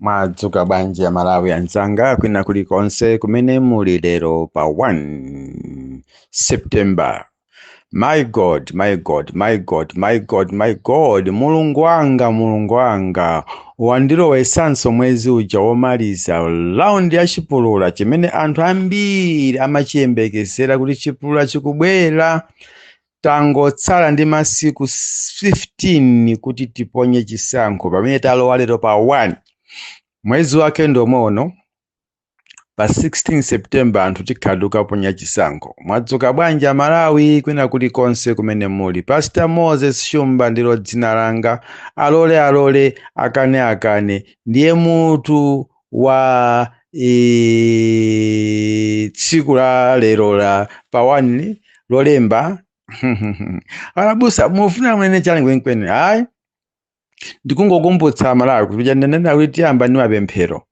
mwadzuka bwanji amalawi anzanga kwina kulikonse kumene muli lero pa 1 september my god my god my god my god my god mulungu wanga mulungu wanga wandilowesanso mwezi uja womaliza laundi ya chipulula chimene anthu ambiri amachiyembekezera kuti chipulula chikubwera Tangotsala ndi masiku 15 kuti tiponye chisankho pamene talowa lero pa 1 mwezi wake ndi womweuno pa 16 september anthu tikhala tikuponya chisankho mwadzuka bwanji amalawi kwina kulikonse kumene muli pastor moses shumba ndilo dzina langa alole alole akane akane ndiye mutu wa eh, tsiku la lero la pa 1 lolemba alabusa mufuna munene chani kwenikweni ayi ndikungokumbutsa amalawi kuti paja ndinanena kuti tiyamba ndi mapemphero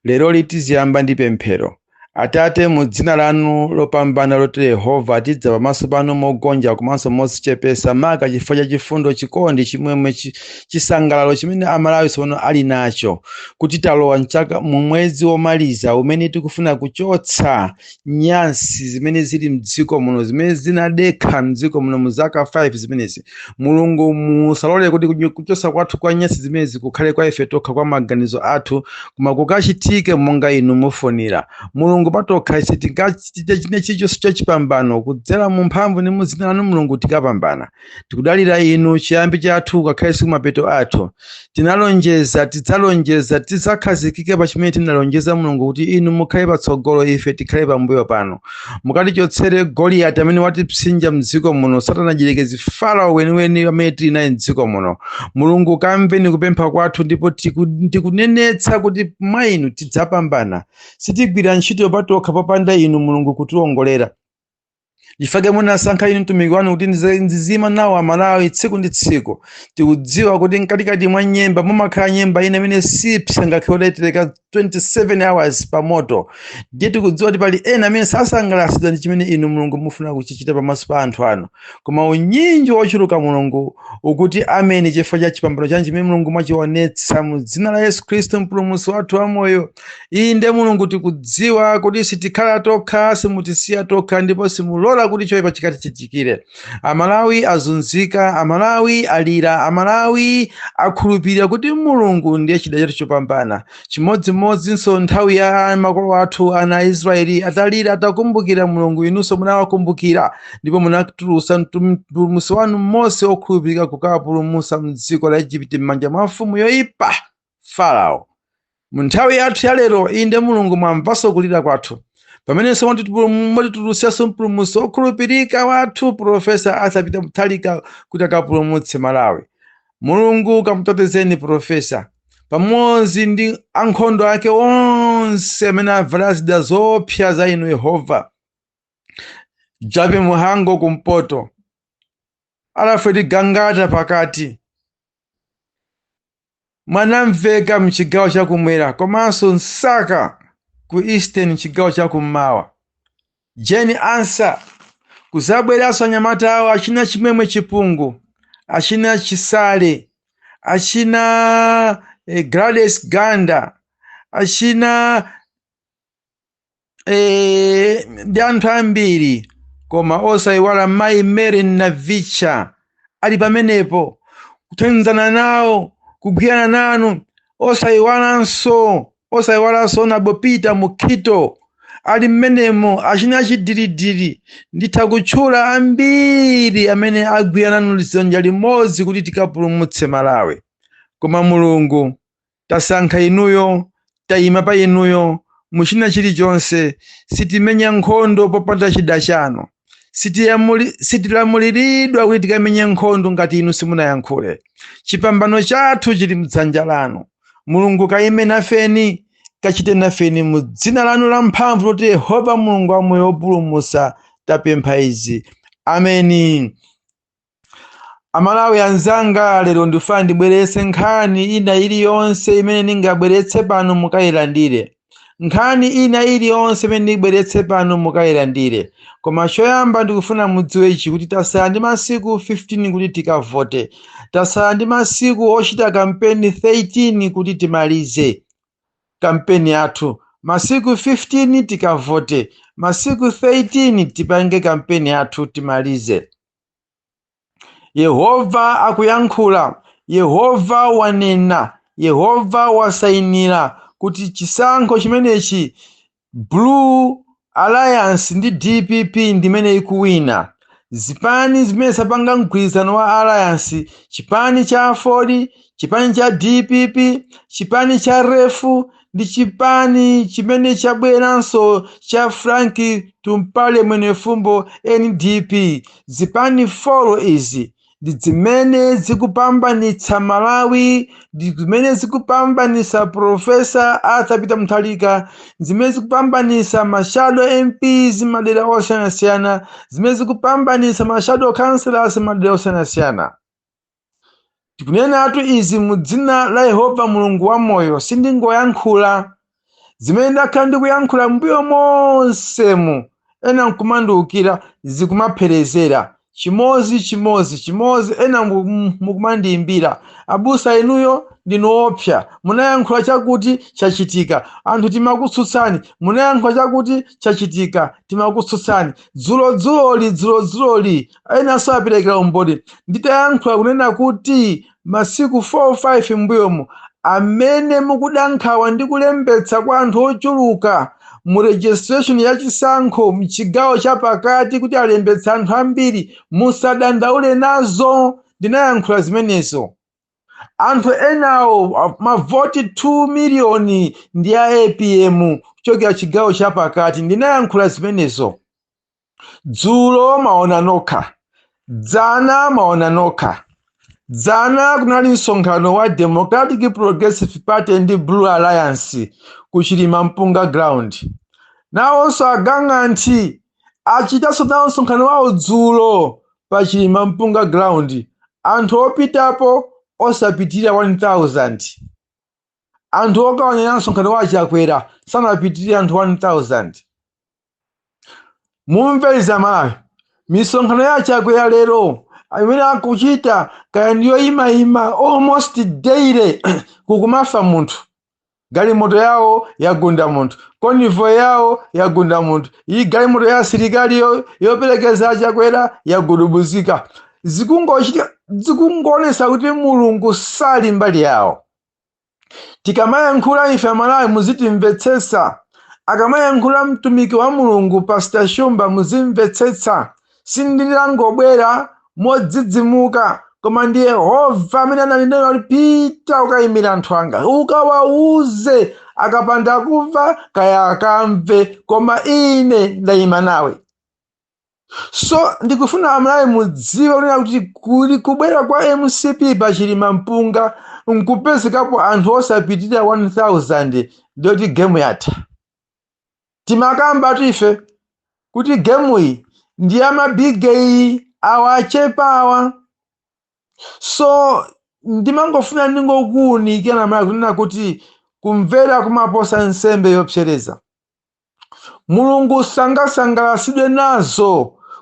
lero ndi tiziyamba ndi pemphero Atate, mu dzina lanu lopambana loti Yehova, tidza pamaso panu mogonja komanso modzichepesa maka chifukwa cha chifundo, chikondi, chimwemwe, chi- chisangalalo chimene Amalawi tsopano ali nacho kuti talowa mchaka mu mwezi womaliza umene tikufuna kuchotsa nyansi zimene zili mdziko muno zimene zinadikha mdziko muno mu zaka 5 zimenezi mulungu musalole kuti kunyo- kuchosa kwathu kwa nyansi zimenezi kukhale kwa ife tokha kwa maganizo athu koma kukachitike monga inu mufunira mulungu patokha sitingachite china chilichonse chachipambano kudzera mu mphamvu ndi mu dzina lanu mulungu tikapambana tikudalira inu chiyambi chathu ngakhalenso kumapeto athu tinalonjeza tidzalonjeza tidzakhazikika pa chimene tinalonjeza mulungu kuti inu mukhale patsogolo ife tikhale pambuyo panu mukatichotsere goliyati amene watipsinja mdziko muno satana mdyerekezi farao weniweni amene tili naye mdziko muno mulungu kamveni kupempha kwathu ndipo tiku- ndikunenetsa kuti mwa inu tidzapambana sitigwira ntchito patokha popanda inu mulungu kutilongolera nchifukwa munasankha ine mtumiki wanu kuti ndizi- ndiziima nawo amalawi tsiku ndi tsiku tikudziwa kuti mkatikati mwa nyemba mumakhala nyemba ina imene sipsa ngakhale udaitereka 27 hours pa moto ndiye tikudziwa kuti pali ena amene sasangalatsidwa ndi chimene inu mulungu mufuna kuchichita pamaso pa anthu anu koma unyinji wochuluka mulungu ukuti ameni chifukwa cha chipambano chanu chimene mulungu mwachionetsa mu dzina la yesu khristu mpulumutsi wathu wamoyo inde mulungu tikudziwa kuti sitikhala tokha simutisiya tokha ndipo simulola kuti choyipa chikatichitikire amalawi azunzika amalawi alira amalawi akhulupirira kuti mulungu ndiye chida chathu chopambana chimodzimodzinso nthawi ya makolo athu ana a israeli atalira atakumbukira mulungu inunso munawakumbukira ndipo munatulutsa mpulumutsi wanu mose okhulupirika kukawapulumutsa mdziko la egypt m'manja mwa mfumu yoyipa Farao. Mu nthawi yathu ya lero, inde Mulungu mwamvanso kulira kwathu pamenenso mwatitipulum- mwatitulutsanso mpulumutsi wokhulupirika wathu Profesa Arthur Peter Mutharika kuti akapulumutse Malawi. Mulungu kamutetezeni Profesa pamodzi ndi ankhondo ake onse amene avala zida zoopsa za inu Yehova. Jappie Mhango kumpoto, Alfred Gangata pakati, Mwanamveka m'chigawo chakumwera komanso Msaka ku Eastern m'chigawo chakummawa. Jane Ansah kudzabweranso anyamata awo achina Chimwemwe Chipungu, achina Chisale, achina eh, Gladys Ganda, achina e, ndi anthu ambiri koma osayiwala mayi mary navicha ali pamenepo kuthandizana nawo kugwirana nanu osayiwalanso osayiwalanso onabo peter mukhito ali mmenemo achina achidiridiri nditha kutchula ambiri amene agwira nanu dzanja limodzi kuti tikapulumutse malawi koma mulungu tasankha inuyo tayima pa inuyo muchina chilichonse sitimenya nkhondo popanda chida chanu Sitilamuli- sitilamuliridwa kuti tikamenye nkhondo ngati inu simunayankhule chipambano chathu chili mdzanja lanu mulungu kayime nafeni kachite nafeni mu dzina lanu la mphamvu loti yehova mulungu wamoyo wopulumusa tapempha izi ameni amalawi anzanga lero ndifuna ndibweretse nkhani ina iliyonse imene ndingabweretse pano mukayilandire nkhani ina iliyonse imene ndibweretse pano mukayilandire koma choyamba ndikufuna mudziwe ichi kuti tasala ndi masiku 15 kuti tikavote tasala ndi masiku ochita kampeni 13 kuti timalize kampeni yathu masiku 15 tikavote masiku 13 tipange kampeni yathu timalize yehova akuyankhula yehova wanena yehova wasainira kuti chisankho chimenechi blue alliance ndi dpp ndimene ikuwina zipani zimene zapanga mgwirizano wa alliance chipani cha aford chipani cha dpp chipani cha refu ndi chipani chimene chabweranso cha frank tumpale mwenefumbo ndp zipani folo izi ndi zimene zikupambanitsa malawi ndi zimene zikupambanitsa profesa arthur peter mutharika ndi zimene zikupambanitsa mashado mps mmadera osiyanasiyana zimene zikupambanitsa mashado councillors mmadera osiyanasiyana Ndikunenatu izi mu dzina la Yehova Mulungu wamoyo, sindingoyankhula. Zimene ndakhala ndikuyankhula m'mbuyo monsemu, ena nkumandiukira, zikumapherezera. Chimodzi, chimodzi, chimodzi, ena mu- mu- mukumandiimbira. Abusa inuyo ndinu woopsa, munayankhula chakuti chachitika, anthu timakutsutsani, munayankhula chakuti chachitika, timakutsutsani. Dzulo dzuloli, dzulo dzuloli, enanso aperekera umboni nditayankhula kunena kuti masiku 4 5 mbuyomu amene mukuda nkhawa ndi kulembetsa kwa anthu ochuluka mu registration ya chisankho mchigawo cha pakati kuti alembetsa anthu ambiri musadandaule nazo ndinayankhula zimenezo anthu enawo a- mavoti 2 miliyoni ndi a APM kuchokera chigawo cha pakati ndinayankhula zimenezo dzulo maona nokha dzana maona nokha dzana kunali msonkhano wa democratic progressive party ndi blue alliance ku chilima mpunga ground nawonso agang'anthi achitanso nawo msonkhano wawo dzulo pa chilima mpunga ground anthu opitapo osapitirira 1000 anthu okawonerera msonkhano wa achakwera sanapitirire anthu 1000 mumve izi amalawi misonkhano ya achakwera lero imene akuchita kaya ndi yoimaima almost daily kukumafa munthu galimoto yawo yagunda munthu konivo yawo yagunda munthu iyi galimoto ya asilikali yo- yoperekeza achakwera yagudubuzika zikungochitika zikungoonesa kuti mulungu sali mbali yawo tikamayankhula ife amalawi muzitimvetsetsa akamayankhula mtumiki wa mulungu pastor shumba muzimvetsetsa sindinangobwera modzidzimuka koma ndi yehova amene ananena kuti pita ukayimire anthu anga ukawauze akapanda kumva kaya akamve koma ine ndayima nawe so ndikufuna amalawi mudziwe kunena kuti kuli kubwera kwa mcp pa chilima mpunga nkupezekapo anthu osapitirira 1000 ndiye kuti gemu yatha timakambatu ife kuti gemuyi ndi yamabigeyi awa achepa awa so ndimangofuna ndingokuwunikirani amalawi kunena kuti kumvera kumaposa nsembe yopsereza Mulungu sangasangalasidwe nazo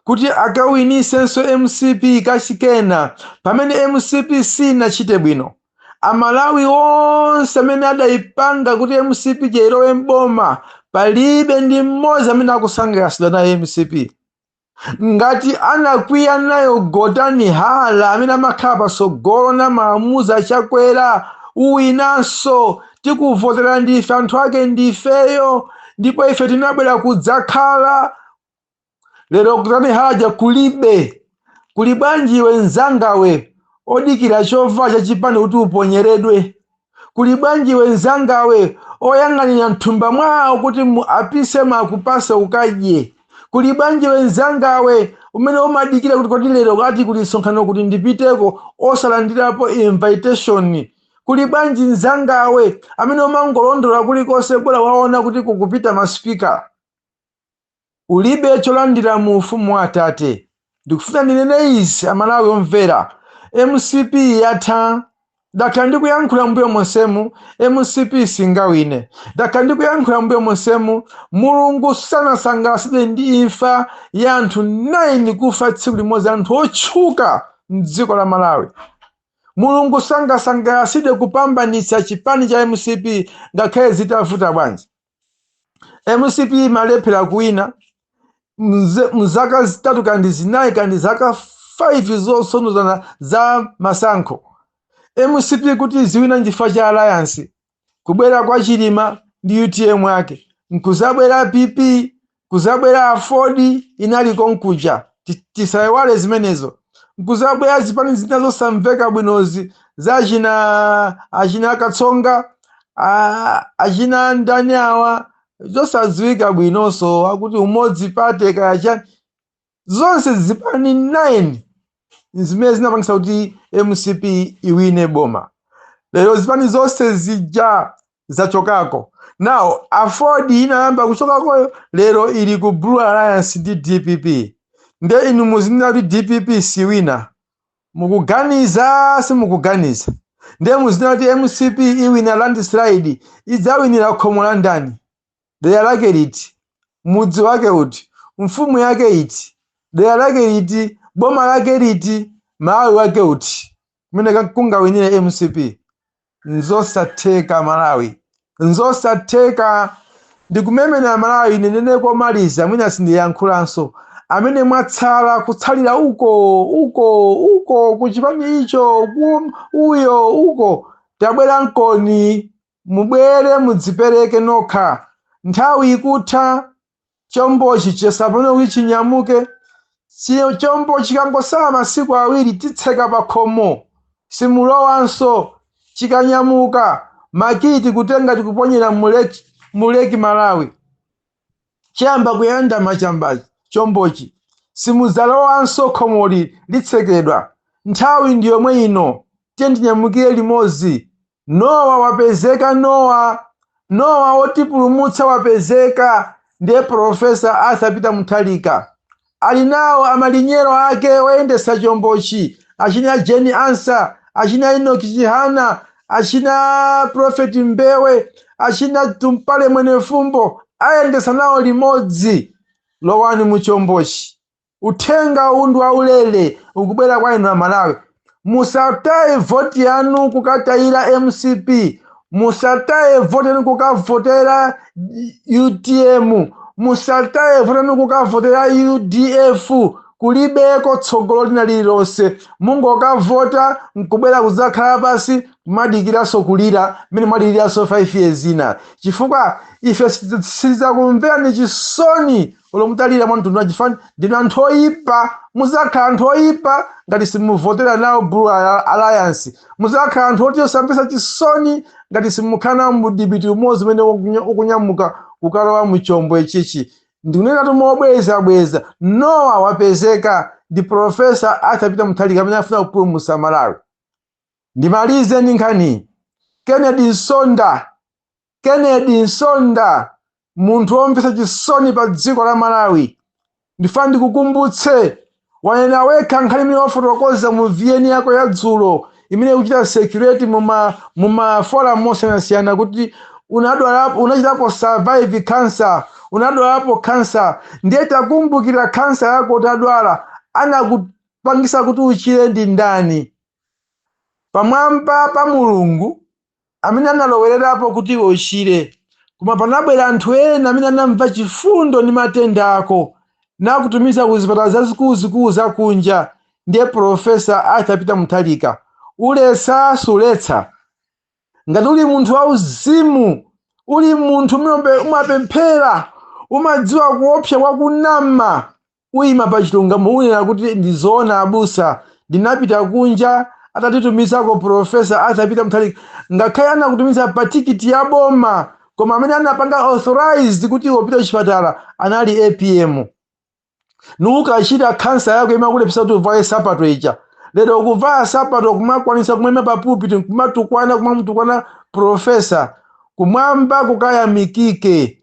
kuti akawinisenso mcp kachikena pamene mcp sinachite bwino. Amalawi onse amene adaipanga kuti mcp ija ilowe m'boma palibe ndi mmodzi amene akusangalasidwa nayo mcp. ngati anakwiya nayo gotani hala amene amakhala patsogolo namaamuza chakwera uwinanso tikuvotera ndife anthu ake ndifeyo ndipo ife tinabwera kudzakhala lero gotani hala aja kulibe kuli bwanji iwe mzangawe odikira chovala chachipani kuti uponyeredwe kuli bwanji iwe mzangawe oyang'anira mthumba mwawo kuti apise m'makupase ukadye kuli bwanji iwe mzangawe umene umadikira kuti kodi lero kuti kuli msonkhano kuti ndipiteko osalandirapo invitation kuli bwanji mzangawe amene umangolondola kulikonse bola waona kuti kukupita masipika Ulibe cholandira mu ufumu wa atate. Ndikufuna ndinene izi amalawi omvera. Mcp yatha. Ndakhala ndikuyankhula mbuyo monsemu mcp singawine. Ndakhala ndikuyankhula mbuyo monsemu Mulungu sanasangalatsidwe ndi imfa ya anthu 9 kufa tsiku limodzi anthu otchuka mdziko la Malawi. Mulungu sangasangalatsidwe kupambanitsa chipani cha mcp ngakhale zitavuta bwanji. mcp imalephera kuwina mze- mzaka zitatu kandi zinayi kandi zaka 5 zotsondozana za masankho mcp kuti iziwina nchifukwa cha alliance kubwera kwa chilima ndi utm ake nkuzabwera pp Kuzabwera aford inali konkuja tisaiwale zimenezo. Nkuzabwera zipani zina zosamveka bwinozi za achina achina Katsonga a- achina ndani awa zosadziwika bwinonso akuti umodzi party kaya chani zonse zipani 9 zimene zinapangisa kuti mcp iwine boma lero zipani zonse zija zachokako now aford inayamba kuchokakoyo lero ili ku blue alliance ndi dpp nde inu muzinena kuti dpp siwina mukuganiza simukuganiza nde muzinena kuti mcp iwina landslide idzawinira khomo la ndani dera lake liti mudzi wake uti mfumu yake iti dera lake liti boma lake liti malawi wake uti kumene ka- kungawinire mcp nzosatheka malawi nzosatheka ndikumenena malawi ninene komaliza mwina sindiyankhulanso amene mwatsala kutsalira uko uko uko kuchipani icho ku- uyo uko tabwera nkoni Mubwere mudzipereke nokha. Nthawi ikutha. Chombochi chiyesa pano kuti chinyamuke. Chombochi chikangotsala masiku awiri titseka pa khomo. Simulowanso. Chikanyamuka, makiyi tikutenga tikuponyera mu lake, mu Lake Malawi. chikayamba kuyandama chombochi, chombochi, simudzalowanso khomoli litsekedwa. Nthawi ndi yomwe ino. Tiyeni tinyamukire limodzi. Nowa wapezeka Nowa! Nowa wotipulumutsa wapezeka! Ndiye Prof. Arthur Peter Mutharika Ali nawo amalinyero ake oyendetsa chombochi, achina Jane Ansah, achina Enoch Chihana, achina Prophet Mbewe, achina Tumpale Mwenifumbo ayendetsa nawo limodzi. Lowani mu chombochi. Uthenga uwu ndi waulere ukubwera kwa inu Amalawi. musataye voti yanu kukatayira mcp musataye voti yanu kukavotera utm musataye voti yanu kukavotera udf kulibeko tsogolo lina lililonse mungokavota nkubwera kudzakhala pansi kumadikiranso kulira mmene mwadikiriranso 5 years ina chifukwa ife sitidzakumverani chisoni olo mutalira mwa mtundu wanji ndinu anthu oyipa muzakhala anthu oyipa ngati simuvotera nawo blue Al- alliance muzakhala anthu oti osamvetsa chisoni ngati simukhala nawo mudipiti umodzi umene ukunya- ukunyamuka kukalowa muchombo ichichi ndikunena tu mobweza bweza nowa wapezeka ndi profesa Arthur Peter Mutharika amene afuna kupulumutsa malawi ndimalize ndi nkhani ya Kennedy Msonda Kennedy Msonda, munthu womvetsa chisoni pa dziko la Malawi. Ndifuna ndikukumbutse, wanena wekha nkhani imene wafotokoza mu VN yako ya dzulo imene ikuchita circulate mu ma mu ma forum osiyanasiyana kuti unadwala unachitapo survive cancer, unadwalapo cancer. Ndiye takumbukira cancer yako utadwala anakupangisa kuti uchire ndi ndani? Pamwamba pa Mulungu amene analowererapo kuti iwe uchire. Koma panabwera anthu ena amene anamva chifundo ndi matenda ako, nakutumiza ku zipatala zazikuluzikulu za kunja. Ndiye Profesa Arthur Peter Mutharika, uletsa suletsa? Ngati uli munthu wauzimu, uli munthu umene umapemphera, umadziwa kuopsa kwa kunama. Kuima pa chilungamo unena kuti ndi zoona abusa. Ndinapita kunja atanditumizako Professor Arthur Peter Mutharika ngakhale anakutumiza pa tikiti ya boma koma amene anapanga authorize kuti upite kuchipatala anali APM. Nukachira khansa yako imakulephesa kuti uvale sapato ija. Lero ukuvala sapato kumakwanisa kumaima pa pulpit nkumatukwana kumamutukwana professor kumwamba kukayamikike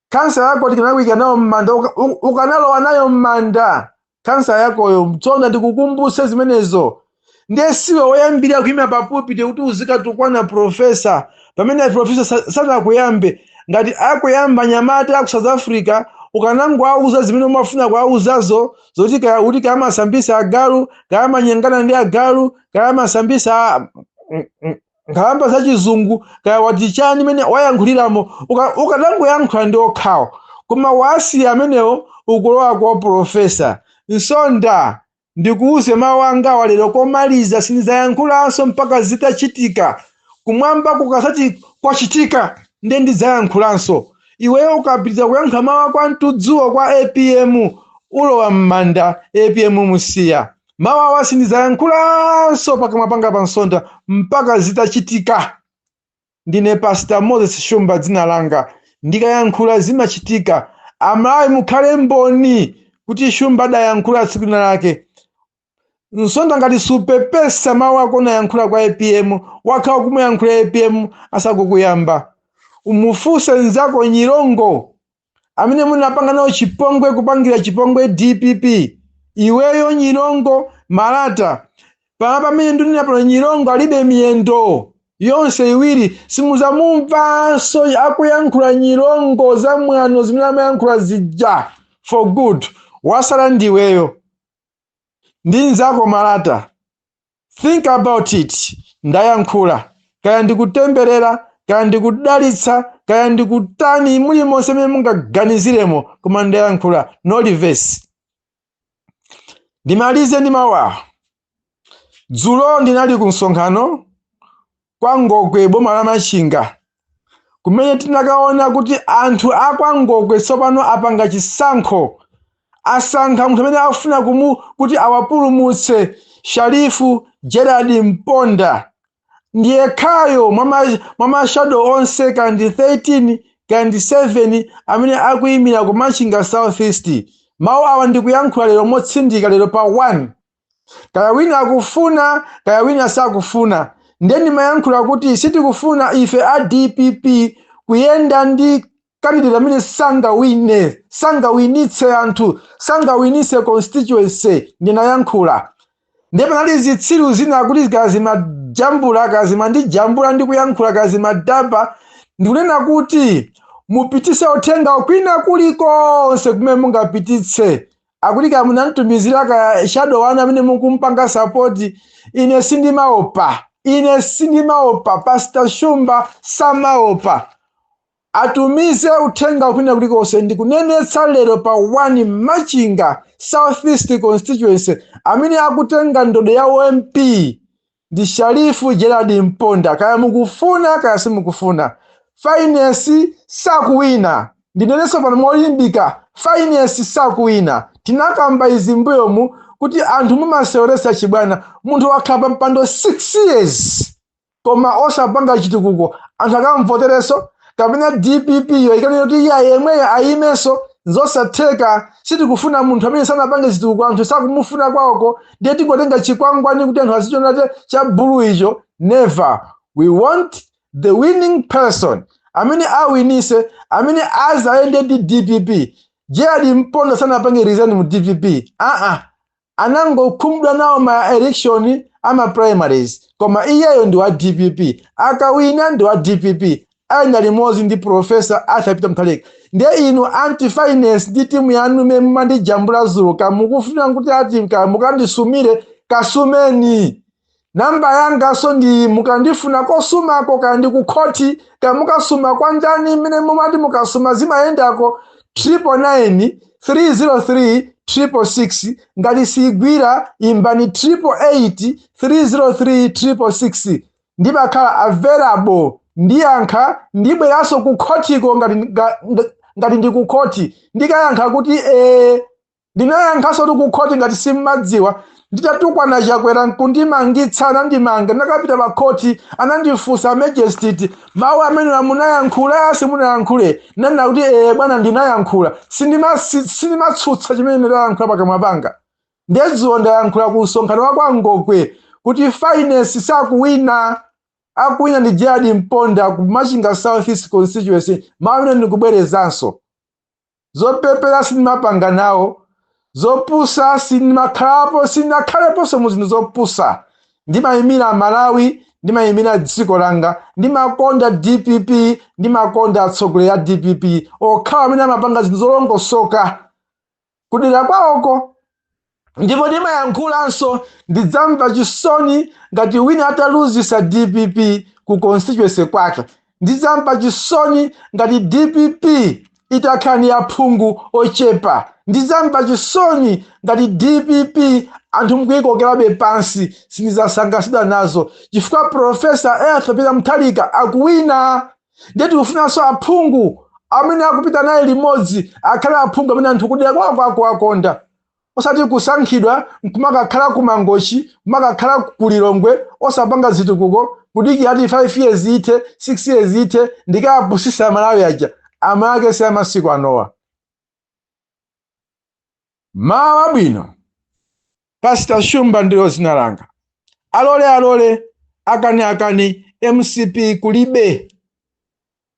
Khansa yako tikanakuyika nayo mmanda uka, u, ukanalowa nayo mmanda khansa yakoyo nsonda ndikukumbutse zimenezo ndiye siwe woyambirira kuyima pa pulpit kuti uzikatukwana profesa pamene profesa sa- sanakuyambe ngati akuyamba anyamata aku south africa ukanangowauza zimene umafuna kuwauzazo zoti kaya kuti kaya amasambisa agalu kaya amanyengana ndi agalu kaya amasambisa a- Mm, mm. nkhalamba za chizungu kaya wati chani mmene wayankhuliramo uka- ukadangoyankhula ndi okhawo koma wasiya amenewo ukulowa kwa profesa nsonda ndikuuze mawu anga walero komaliza sindidzayankhulanso mpaka zitachitika kumwamba kukadzati kwachitika nde ndidzayankhulanso iweyo ukapitiriza kuyankhula mawu ako amtudzuwo kwa apm ulowa m'manda apm musiya mawu awa sindidzayankhulanso pakamwa panga pa nsonda mpaka zitachitika ndine pastor moses shumba dzina langa ndikayankhula zimachitika amalawi mukhale mboni kuti shumba adayankhula tsiku lina lake nsonda ngati supepesa mawu ako unayankhula kwa apm wakhala kumuyankhula apm asakukuyamba umufunse nzako nyirongo amene munapanga nawo chipongwe kupangira chipongwe dpp iweyo nyirongo malata pama pamene ndunena pano nyirongo alibe miyendo yonse iwiri simuzamumvanso akuyankhula nyirongo za mwano zimene amayankhula zija for good wasala ndiweyo ndi nzako malata Think about it. Ndayankhula. Kaya ndikutemberera, kaya ndikudalitsa, kaya ndikutani mulimonse mmene mungaganiziremo, koma ndayankhula. No reverse. Ndimalize ndi mawu awa. Dzulo ndinali ku msonkhano kwa Ngokwe boma la Machinga kumene tinakaona kuti anthu a kwa Ngokwe tsopano apanga chisankho asankha munthu amene akufuna kumu kuti awapulumutse Sharifu Gerard Mponda ndiyekhayo mwa ma- mwa mashado onse kaya ndi 13 kaya ndi 7 amene akuyimira ku Machinga Southeast mawu awa ndikuyankhula lero motsindika lero pa 1 kaya wina akufuna kaya wina sakufuna nde ndimayankhula kuti sitikufuna ife a dpp kuyenda ndi kandidate amene sangawine sangawinitse anthu sangawinitse constituency ndinayankhula nde panali zitsiru zina kuti kaya zimajambula kaya zimandijambula ndikuyankhula kaya zimadaba ndikunena kuti mupititse uthenga kwina kulikonse kumene mungapititse akuti kaya munamtumizira kaya cadet wanu amene mukumpanga sapoti ine sindimaopa ine sindimaopa pastor shumba samaopa atumize uthenga kwina kulikonse ndikunenetsa lero pa 1 machinga southeast constituency amene akutenga ndodo ya u MP Ndi Sharif Gerald Mponda kaya mukufuna kaya simukufuna. Finesi sakuwina. Ndinenenso pano molimbika Finesi sakuwina. Tinakamba izi mbuyomu kuti anthu mumaseweresa chibwana. Munthu wakhala pampando 6 years koma osapanga chitukuko anthu akamvotereso? kapena dpp yo ikanena kuti iya yemweyo ayimenso nzosatheka sitikufuna munthu amene sanapange chitukuko anthu sakumufuna kwawoko ndiye tingotenga chikwangwani kuti anthu azichonate cha bulu icho never we want the winning person amene awinise amene azayende ndi dpp gerald mponda sanapange resign mu dpp aa anangokhumudwa nawo ma election a ma primaries koma iyeyo ndi wa dpp akawina ndi wa dpp ayenda limodzi ndi professor arthur peter mutharika ndiye inu anti finesi ndi timu yanu imene mumandijambula zuka mukufuna kuti ati ka- mukandisumire kasumeni Namba yanganso ndiyi mukandifuna kosumako kaya ndi ku khoti kaya mukasuma kwa ndani mmene mumati mukasuma zimayendako 999 303 666 ngati siyigwira imbani 888 303 666 ndimakhala available ndiyankha ndibweranso ku khotiko ngati, nga, nga, ngati ndi ku khoti ndikayankha kuti ee Ndinayankhanso kuti kukhoti ngati simmadziwa nditatukwana Chakwera nkundimangitsa anandimanga ndinakapita pa khoti anandifunsa a magistrate mawu amenewa munayankhula simunayankhule ndinanena kuti ee bwana ndinayankhula Sindima- si- sindimatsutsa chimene ndayankhula pakamwa panga nde izo ndayankhula ku msonkhano wa kwa Ngokwe kuti Finesi sakuwina akuwina ndi Gerald Mponda ku Machinga South East constituency mawu amene ndikubwerezanso zopepera sindimapanga nawo zopusa sindimakhalapo sindinakhaleponso mu zinthu zopusa ndimayimira amalawi ndimayimira dziko langa ndimakonda dpp ndimakonda atsogoleri a dpp okhawo amene amapanga zinthu zolongosoka kudera kwawoko Ndipo ndimayankhulanso ndidzamva chisoni ngati wina ataluzisa dpp ku constituency kwake. Ndidzamva chisoni ngati dpp itakhala ndi aphungu ochepa. Ndidzamva chisoni ngati dpp anthu mkuikokerabe pansi. Sindidzasangalatsidwa nazo chifukwa Professor A. Peter Mutharika akuwina. Ndiye tikufunanso aphungu amene akupita naye limodzi akhale aphungu amene anthu kudera kwako akuwakonda. osati kusankhidwa nkumakakhala ku mangochi kumakakhala ku lilongwe osapanga zitukuko kudikira ati 5 years ithe 6 years ithe ndikawapusitse amalawi aja a mwakale si amasiku anowa mawu abwino pastor shumba ndilo zina langa alole alole akani akani mcp kulibe